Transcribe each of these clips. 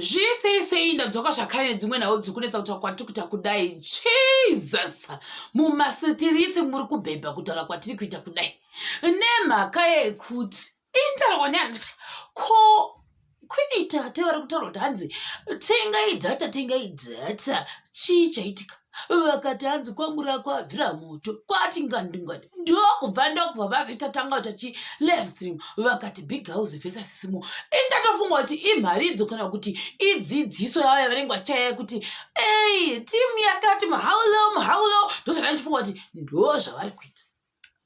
zviri sei sei ndadzoka zvakare nedzimwe nhau dziri kunetsa kutaura kwatiri kuita kudai jesus mumasitiriti muri kubhebha kutaura kwatiri kuita kudai nemhaka yekuti intaurwa neani ko kwini tate vari kutaura kuti hanzi tengai dhata tengai dhata chii chaitika vakati hanzi kwamura kwabvira moto kwati ngandingwadi ndokubva ndokubva vazoita tanga kuita chi live stream vakati big house vesa sisimo indatofunga kuti imharidzo kana kuti idzidziso yavo yavanenge vachaya kuti ei timu yakati mahaulo mahaulo ndozvandaichifunga kuti ndo zvavari kuita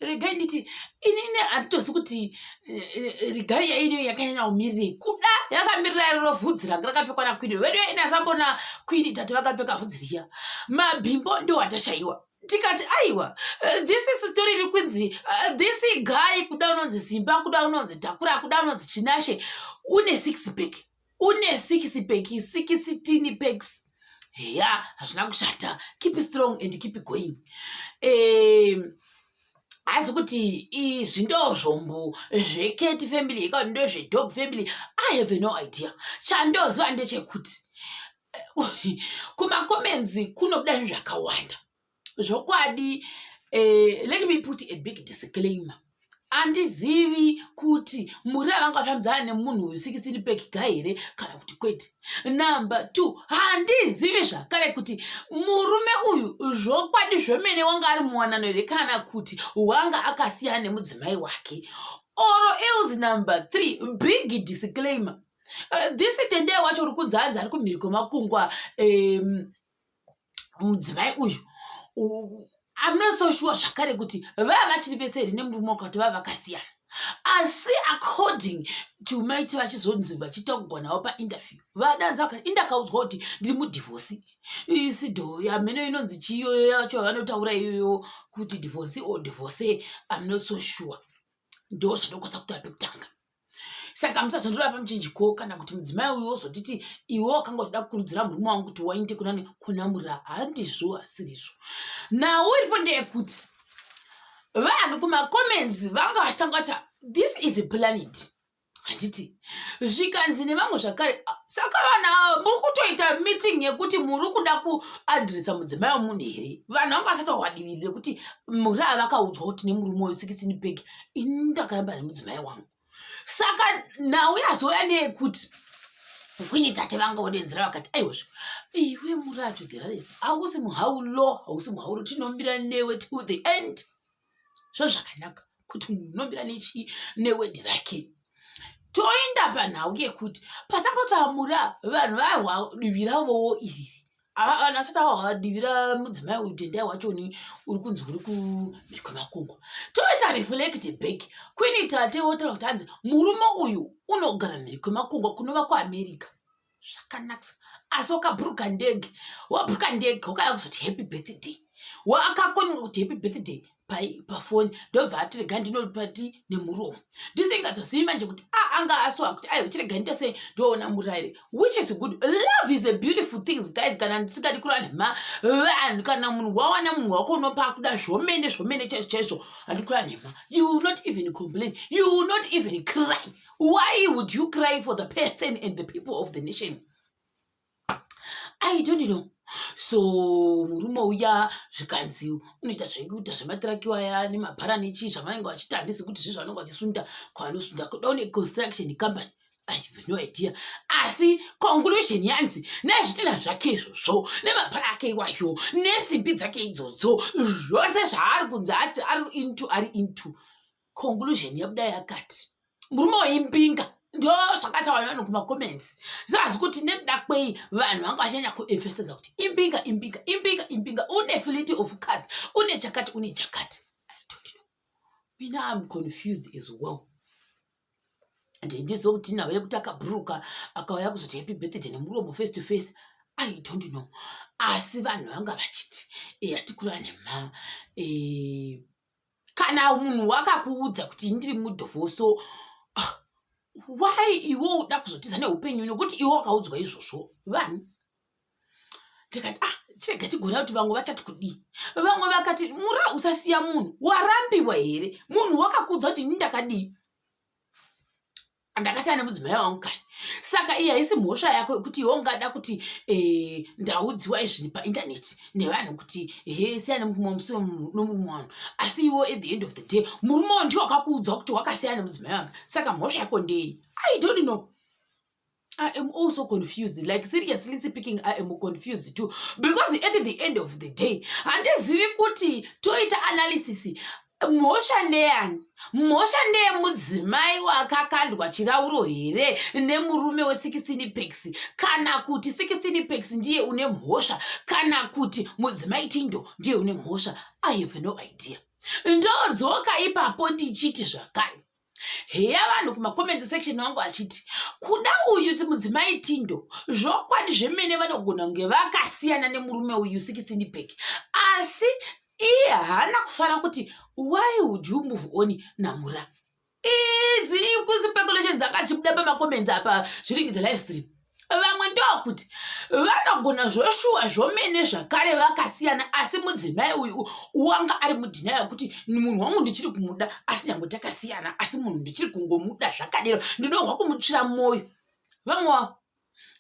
regai nditi inini handitozi kuti eh, eh, regai yairiyo yakanyanya umirirei kuda yakamirira iriro vhudzi range rakapfekwa nakwini vedu yaini asambona kwini tati vakapfeka vhudzi riya mabhimbo ndo atashaiwa tikati aiwa eh, this story iri kunzi this guy kuda unonzi zimba kuda unonzi dhakura kuda unonzi chinashe une six back une six pack sixteen packs heya hazvina kushata keep strong and keep going um, hazi kuti izvi ndozvombo zveketi family hekati ndozvedob family i have no idea chandoziva ndechekuti kumacomenzi kunobuda zvinhu zvakawanda zvokwadi uh, let me put a big disclaimer handizivi kuti muri avangafambidzana nemunhu uyu sikisini pekiga here kana kuti kwete number two handizivi zvakare kuti murume uyu zvokwadi zvemene wanga ari muwanano here kana kuti wanga akasiyana nemudzimai wake oro else number three big disclaimer uh, this tendee wacho uri kunzi anzi ari kumhiri kwemakungwa um, mudzimai uyu amuna so shuwa zvakare kuti vava vachiri vese here nemurume waka kuti vava vakasiyana asi according to maiti vachizonzi vachiita kugonavo painterview vadanza vakati indakaudzwa kuti ndiri mudivhosi isido hameno inonzi chiiyoyo yacho vanotaura iyoyo kuti divhosi or divhose amuna so shuwa ndo zvandokwasa kutaura pekutanga saka musazondoreva pamuchinjiko kana kuti mudzimai uyo ozotiti iwe wakanga uchida kukurudzira murume wangu kuti wainde kunani kunamura handizvo asirizvo nhau iripo ndeyekuti vanhu kumacomments vanga vachitanga kuti this is a planet handiti zvikanzi nevamwe zvakare saka vanhu ava muri kutoita meeting yekuti muri kuda kuadresa mudzimai wemunhu here vanhu vanga vasati wahwadivirire kuti muri avakaudzwa kuti nemurume uyu 16 bag ini ndakaramba nemudzimai wangu saka nhau yazouya neyekuti kwini tate vanga vodenzera vakati aiwezvo iwe murato dheraresi hausi muhaulo hausi muhaulo tinombira newe to the end zvozvakanaka kuti unombira nechi newe dhirake toenda panhau yekuti pasakoti amura vanhu vahwa divi ravowo iriri Ava vanhu vasati avadivira mudzimai uyu tendai wachoni uri kunzi uri kumhiri kwemakungwa toita reflect back kwini tate wotaura kuti hanzi murume uyu unogara mhiri kwemakungwa kunova kuamerica zvakanakisa asi wakaburuka ndege waburuka ndege wakada kuzoti happy birthday waakakonga kuti happy birthday pafoni ndobva ati rega ndinopati nemuromo ndisingazozivi manje kuti a ah, anga aswa kuti aiwa chirega ndite sei ndoona muraire which is good love is a beautiful things guys kana ndisingadi kurana ma vanhu kana munhu wawana munhu wako unopa akuda zvomene zvomene chaizvo chaizvo handi kurana nhema you will not even complain you will not even cry why would you cry for the person and the people of the nation i don't know so murume uya zvikanzi unoita zvaikuita zvematiraki waya nemabhara nechii zvavanenge vachita handisi kuti zve zvavanenge vachisunda kwavanosunda kuda une construction company no idea asi conclusion yanzi nezvitina zvake izvozvo nemabhara ake iwayo nesimbi dzake idzodzo zvose zvaari kunzi ati ari into ari into conclusion yabuda yakati murume waimbinga ndo zvakataura nevanhu kumacomments zvazi kuti nekuda kwei vanhu vanga vachanyanya kuefesesa kuti imbinga imbinga imbinga imbinga une fility of cas une chakati une chakati mina am confused as well ndendiziva kuti nawe yekuti akaburuka akauya kuzoti happy birthday nemuromo face to face i don't know asi vanhu vanga vachiti eh, atikurane mha eh, kana munhu wakakuudza kuti ndiri mudhovoso ah, why iwe uda kuzotiza neupenyu nokuti iwe wakaudzwa izvozvo vani ndikati ah chirega chigona kuti vamwe vachati kudii vamwe vakati mura usasiya munhu warambiwa here munhu wakakuudza kuti ini ndakadii ndakasiyana nemudzimai wangu kani saka iyi haisi mhosva yako yekuti iwe ungada kuti eh, ndaudziwa izvini paintaneti nevanhu kuti he siyana nemurume wamusiwa nomurume wanhu asi iwo at the end of the day murume wo ndiwo wakakuudza kuti wakasiyana nemudzimai wanga saka mhosva yako ndei i don't know I am also confused. Like seriously speaking, I am confused too. Because at the end of the day, handizivi kuti toita analysis mhosva ndeyani mhosva ndeyemudzimai wakakandwa chirauro here nemurume we16 pex kana kuti 16 pex ndiye une mhosva kana kuti mudzimai tindo ndiye une mhosva i have no idea ndodzoka ipapo ndichiti zvakare heya vanhu kumacoment section wangu achiti kuda uyu mudzimai tindo zvokwadi zvemene vanogona kunge vakasiyana nemurume uyu 16 back asi iye haana kufara kuti why would you move on namura idzi ikuspeculations akachibuda pamacomments apa zviringi the live stream vamwe ndokuti vanogona zvoshuwa zvomene zvakare vakasiyana asi mudzimai uyu wanga ari mudhina yekuti munhu wangu ndichiri kumuda asi nyange takasiyana asi munhu ndichiri kungomuda zvakadero ndinohwa kumutsvira mwoyo vamwe wavo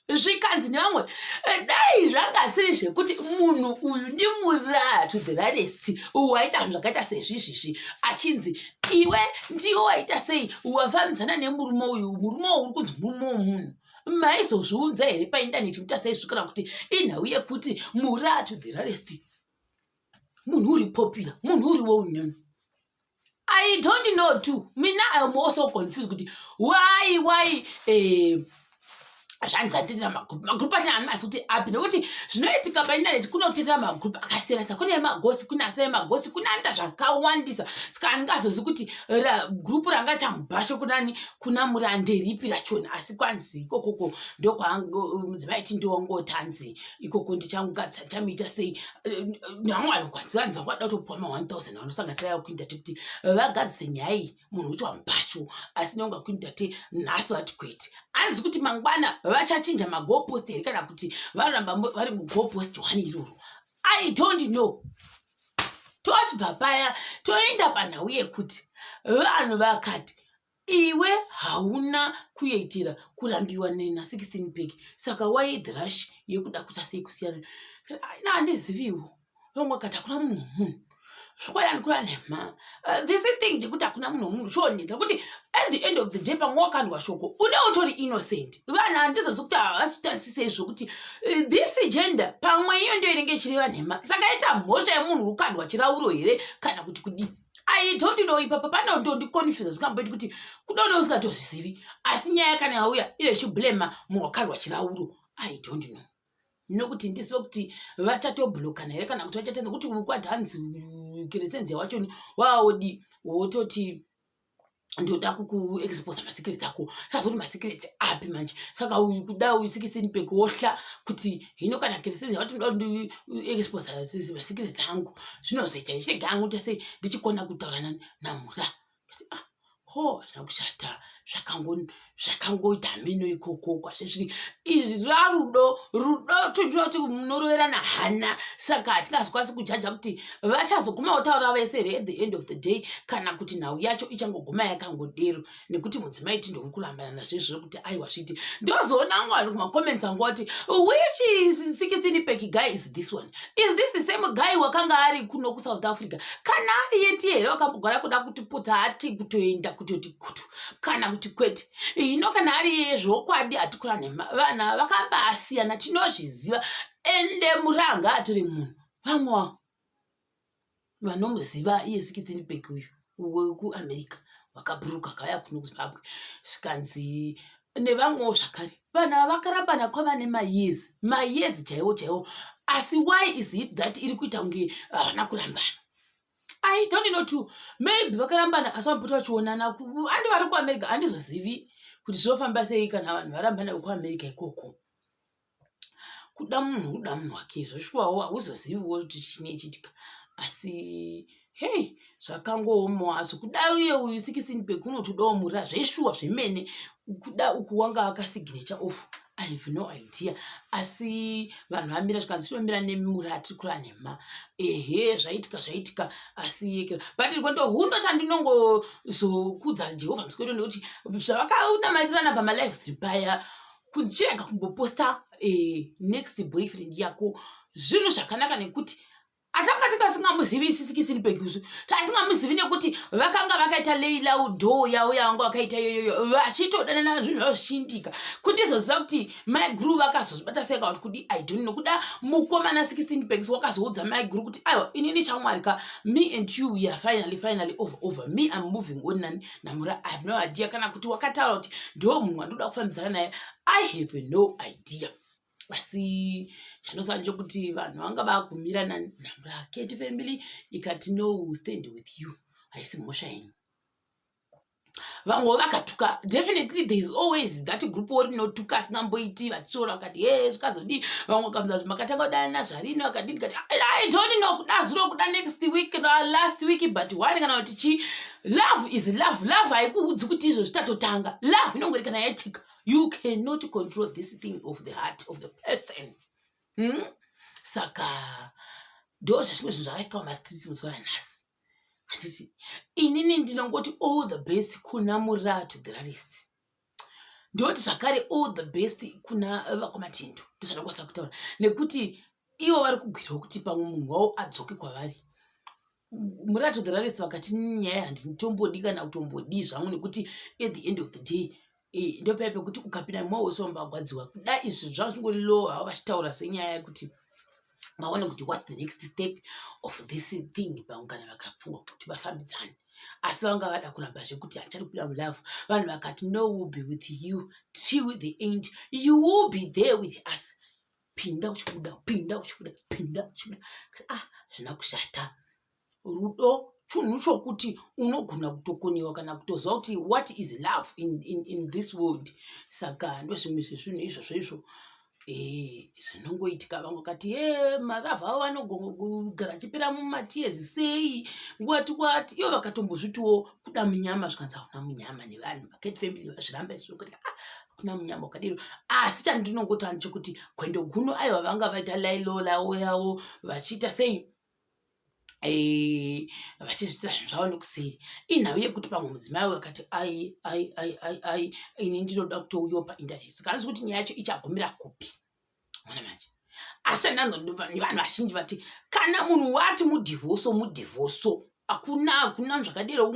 zvikanzi nevamwe eh, dai zvangasiri zvekuti munhu uyu ndimuraya to the rarest waita zvinhu zvakaita sezvizvizvi achinzi iwe ndiwe waita sei wafambidzana nemurume uyu murume uri kunzi murume wemunhu maizozviunza here paindaneti kuti asaizvikana kuti inhau yekuti mura to the rarest munhu uri popula munhu uri wounen i don't know to mina iam also confused kuti why why eh, zvanzi atirira magroup magroup achina handi masi kuti api nokuti zvinoitika paindaneti kunotirira magroup akasiyana sa kune magosi kune asina magosi kune anoita zvakawandisa saka andingazozi kuti group ranga chamubhasho kunani kuna muranderipi rachona asi kwanzi ikokoko ndokwamudzimai ti ndiwangotanzi ikoko ndichangugadzisa chamiita sei nyangu vanokwanzi vanzi vakuda kutopuwa ma 1000 vanosanganisira yakuinda tekuti vagadzise nyaya iyi munhu ucho amupasho asi nonga queen tate nhasi vati kwete anzi kuti mangwana vachachinja magopost here kana kuti varamba vari mugopost wani iroro i don't know tochibva paya toenda panhau yekuti vanhu vakati iwe hauna kuitira kurambiwa nena 16 bag saka waidhirash yekuda kuta sei kusiyana handiziviwo vamwe vakati hakuna munhu wemunhu zvokwadi andikura nhema uh, this thing chekuti hakuna munhu wemunhu chionetsa kuti at the end of the day pamwe wakandwa shoko une utori innocent vanhu handizozi kuti havasitarisisei zvokuti uh, this gender pamwe iyo ndiyo inenge ichireva nhema saka ita mhosva yemunhu uri kukandwa chirauro here kana kuti kudii i don't know ipapa panontondiconfusa zvikamboiti kuti kudone usingatozvizivi asi nyaya kana yauya ine chiblema munhu wakandwa chirauro i don't know nokuti ndisi vekuti vachatoblokana here kana kuti vachatenda kuti kwadhanzi kiresenzia wacho waodi wototi ndoda kukuexposa masikireti ako sazoti masikireti api manje saka uyu kuda uyu sikisini pekuohla kuti hino kana kireseni yavati ndoda ndiexposa masikireti angu zvinozoita ndichirega angu tese ndichikona kutaura namura ah, ho hazvina kushata zvakangoita hameno ikoko kwazvezviri izvi rarudo rudo tinoti munoroverana hana saka hatingazokwanisi kujaja kuti vachazoguma votaura vese here at the end of the day kana kuti nhau yacho ichangoguma yakangodero nekuti mudzimai tindouri kurambana nazvezvo kuti aiwa zviti ndozoona ngo vanhu kumacomments angu vati which is sikisini pekiga is this one is this the same guy wakanga ari kuno kusouth africa kana ari yetiye here wakambogara kuda kuti puta hati kutoenda kutoti kutu kana kuti kwete ino kana ari yeye zvokwadi hatikura nhema vana vakambasiyana tinozviziva ende muranga atiri munhu vamwa vanomuziva iye sikitini bek uyu wekuamerica wakaburuka kaya kuno kuzimbabwe zvikanzi nevamwewo zvakare vanhu ava vakarambana kwava nemayezi mayezi chaiwo chaiwo asi why is it that iri kuita kunge havana kurambana i don't know to maybe vakarambana asi vamupota vachionana andi vari kuamerica handizozivi kuti zvinofamba sei kana vanhu varambana vekuamerica ikoko kuda munhu kuda munhu wake izvo shuwawo hauzoziviwo kuti chine chitika asi hei zvakangoomawo azvo kuda uye uyu sikisini bhegi unotodawo mura zveshuwa zvemene kuda uku wanga akasignecha of i have no idea asi vanhu vamira zvikanzi tinomira nemimura atiri kura nhema ehe zvaitika zvaitika asi yekera but rwendo huno chandinongozokudza jehovha musikwedo nekuti zvavakanamalirana pamalive ziri paya kuchirega kumboposta eh, next boyfriend yako zvinhu zvakanaka nekuti atanga tikasingamuzivi isisikisin pekusu taisingamuzivi nekuti vakanga vakaita leilau dho yavo yavanga vakaita iyoyoyo vachitodanana zvinhu zvavo zvichiindika kuti izoziva kuti mai guru vakazozvibata seka kuti kudi idon nokuda mukomana 16 pekis wakazoudza mai guru kuti aiwa inini chamwari ka me and you ya finally finally over over me am moving on nani namura i have no idea kana kuti wakataura kuti ndiwo munhu wandoda kufambidzana naye i have no idea asi chandosana chokuti vanhu vanga vagumira nanamura keti family ikati no stand with you haisi mhosva yenyu vamwe vakatuka definitely there is always that group wo rinotuka asina mboiti vachishora vakati he zvikazodii vamwe vakaunza zvi makatanga kudana nazvarini vakadini kati i don't know kuda zuro kuda next week kana last week but one kana kuti chii love is love love haikuudzi kuti izvo zvitatotanga love inongori kana yaitika you cannot control this thing of the heart of the person hmm? saka ndo zvazvimwe zvinhu zvakaitika pamastreets muzuva ranhasi handiti inini ndinongoti all the best kuna muratu the rarist ndinoti zvakare all the best kuna vakomatindo ndozvandakwasa kutaura nekuti ivo vari kugwirawo kuti pamwe munhu wavo adzoke kwavari murato the raresi vakati nyaya handitombodi kana kutombodii zvangu nekuti at the end of the day eh, ndopaya pekuti ukapinda mumao wese vambagwadziwa kuda izvi zvavachingori low havo vachitaura senyaya yekuti vaone kuti whats the next step of this thing paungana vakafunga kuti vafambidzane asi vanga vada kuramba zvekuti hachari kuda mulove vanhu vakati no will be with you till the end you will be there with us pinda uchibuda pinda uchibuda pinda uchibuda ah zvina kushata rudo chunhu chokuti unogona kutokonyewa kana kutoziva kuti what is love in, in, in this world saka ndozvimwe zvezvinhu izvozvo izvo eh, zvinongoitika vamwe vakati e eh, maravha avo vanogara achipera mumatiyezi sei wati wati ivo vakatombozvitiwo kuda munyama zvikanzi hakuna munyama nevanhu vakati family vazviramba izvo kuti ah, hakuna munyama wakadiro asi chandinongotani chekuti kwendo guno aiwa vanga vaita lailolawo yavo vachiita sei eh, vachizviitira zvinhu zvavo nekuseri inhau yekuti pamwe mudzimai uyo akati ai ai ai ai ai ini ndinoda kutouyawo painternet saka anzi kuti nyaya yacho ichagumira kupi mona manje asi ananhu nevanhu vazhinji vati kana munhu wati mudhivhoso mudhivhoso hakuna hakuna zvakadero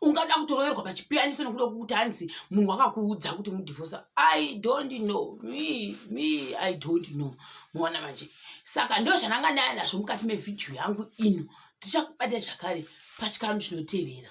ungada kutoroverwa pachipiyaniso nekuda kwekuti hanzi munhu wakakuudza kuti mudivhosa i don't know me me i don't know muona manje saka ndo zvananga ndaya nazvo mukati mevhidhiyo yangu ino tichakubata zvakare pachikano chinotevera